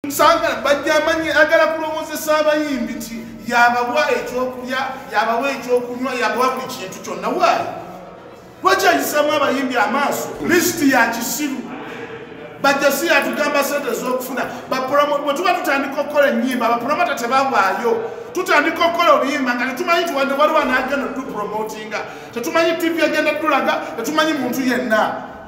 nsanga bajjamanyi agala kulowozesa abayimbi nti yabawa ekyokulya yabawa ekyokunywa yabawa buli kintu kyonna waayo lwekyayisamu abayimbi amaaso lisiti ya kisiru bajja si yatugamba sente ezokufuna bwe tuba tutandika okukola enyimba bapulomota tebawaayo tutandika okukola oluyimba nga tetumanyi nti wadde waliwo anaagenda otupromotinga tetumanyi tivi agenda tulaga tetumanyi muntu yenna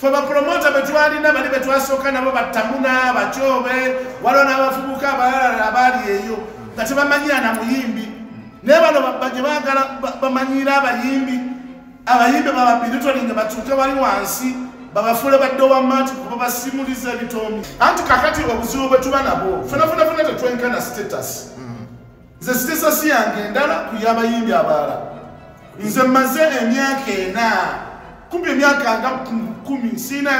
fe bapromota betwalina bali betwasooka nabo battamuna bakyobe waliwo n'abavubuka abalala abaali eyo nga tebamanyira na muyimbi naye bano babaje bagala bamanyiira abayimbi abayimbi bababiritolinga batuuke wali wansi babafuule badde owamaati kuba basimuliza ebitoomi anti kakati obuzibu bwe tuba nabwo fenafunafuna tetwenkana status nze sitesasi yange endala ku yabayimbi abalala nze maze emyaka ena kumpi emyaka nga kumi siina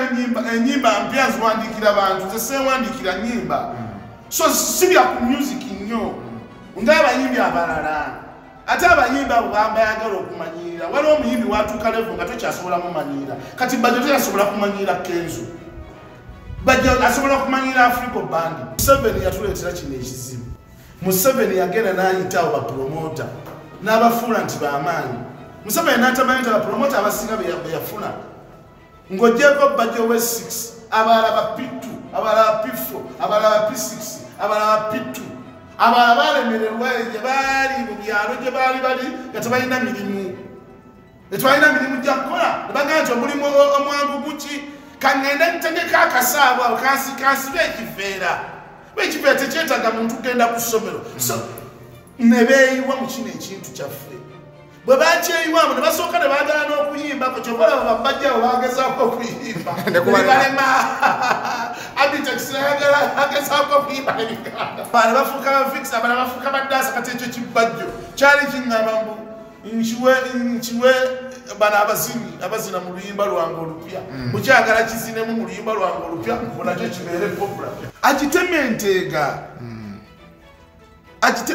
enyimba mpya ziwandiikira bantu nze sewandiikira nyimba so sibya ku music nnyo ngaabayimbi abalala ate abayimbi abo bambayagala okumanyirira waliwo omuyimbi watuuka levo nga tokyasobola mumanyirira kati bajo teyasobola kumanyirira kenzo bajo asobola okumanyirira africo bandi museveni yatuleetera kino ekizibu museveni yagenda nayitawo bapulomota n'abafuula nti bamaanyi museveni natamanyi nti abapulomota abasinga beyafuna ng'ogyeko bajo we 6 abalala bapittu abalala bapifo abalala bapi6 abalala bapittu abalala balemererwa gye baali mu byalo gye baali bali nga tebalina mirimu tetwalina mirimu gya kukola nebagamba nti omulimu omwangu guki kaŋŋende ntegeka akasaabo awo kansibe ekiveera ba ekiveera tekyetaaga muntu kugenda ku ssomero so ne beeyiwa mu kino ekintu kyaffe bwe bakyeyiwamu ne basooka ne baagala n'okuyimbako kyobalaba bambajjawo bagezaako okuyimba nebalema abitekisinayagala agezaako okuyimba nebiganda bana bafuuka bafikisi abana bafuuka baddaasa kati ekyo kibbajjo kyali kiŋŋamba mbu nkiwe nkiwe bano abazini abazina mu luyimba lwange olupya mm. mukyagala kizinemu mu luyimba lwange olupya onakyo kibeere popula akitema enteega mm.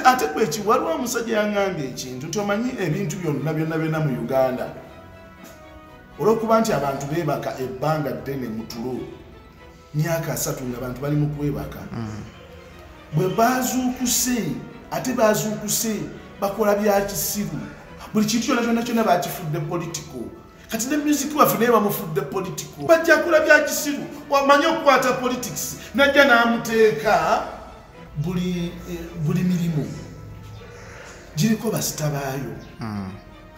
ate kweki waliwo omusajja yangambye ekintu nti omanyi ebintu byonna byonna byonna mu uganda olwokuba nti abantu bebaka ebbanga ddene mutulo myaka asatu nga bantu bali mu kwebaka mm. bwe bazuukuse ate bazuukuse bakola bya kisiru buli kintu kyona kyona kyona bakifudde politiko kati ne music waffe naye bamufudde politiko bajja kola bya kisiru wamanye okukwata politics najja n'amuteeka buli eh, mirimu giriko basita baayo mm.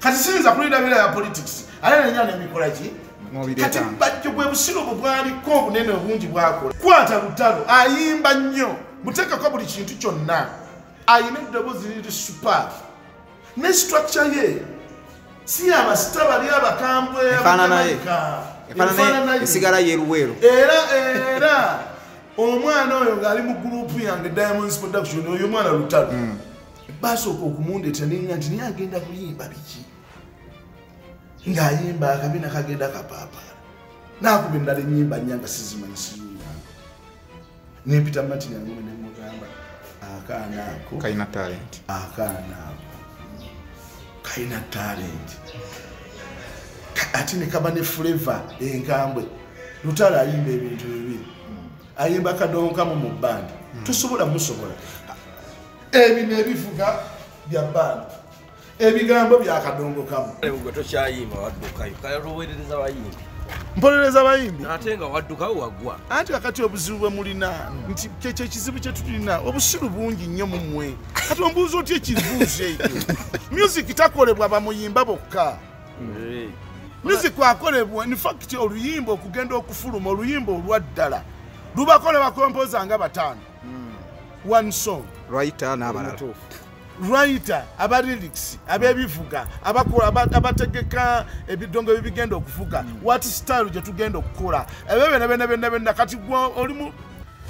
kati siyinza kulirabira ya politics ate nenya nemikola ki kati bajjo bwe busiro bwe bwaliko obunene obungi bwakola kwata lutalo ayimba nnyo muteekako buli kintu kyonna ayina eddoboozi liri super ne structure ye si abasita bali abakambwe esigala yeruweero era era omwana oyo ng'ali mu gurupu yange diamonds production oyo omwana lutalo mm. baasooka okumundeta nenga nti naye agenda kuyimba biki ng'ayimba akabina kagenda kapaapaala naakuba endala enyimba nyanga sizimanyi siyuyaa nempita matini angume nemugamba akaana ako kalina talenti akaana ako kalina talenti ate ne kaba ne fuleva enkambwe lutalo ayimba ebintu bibiri ayimba kadonkamu mu bbandi hmm. tosobola musobola ebino ebivuga bya bandi ebigambo byakadongo kamu mpolereza bayimbi ate nga waddukawo wagwa anti kakati obuzibu bwe mulina nti kyekyo ekizibu kye tulina obusiru bungi nnyo mu mmwe kati ombuuza otya ekibuuzo ekyo music takolebwa bamuyimba bokka music akolebwa infact oluyimba okugenda okufuluma oluyimba olwaddala lubakolebwa kompoza nga bataano one song writer n'abalala writer aba lyrics abebivuga abakola abategeka ebidongo ebibigenda okuvuga mm. what style gye tugenda okukola ebyo byona byona byona byona kati gwe olimu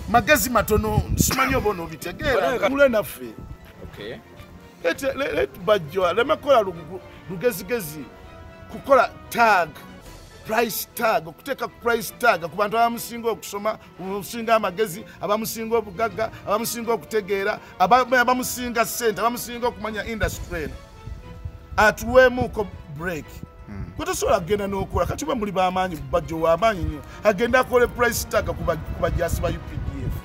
magezi matono simanyi oba onobitegeera mule naffe bajjo aleme kukola lugezigezi kukola tag price tag okuteeka ku price tag ku bantu abamusinga okusoma abamusinga amagezi abamusinga obugagga abamusinga okutegeera abamusinga sente abamusinga okumanya industry eno atuweemuuko break hmm. kwetusobola kugenda n'okola kati ba muli bamaanyi bajjo wamaanyi nnyo agenda akole price tag kubajasi ba updf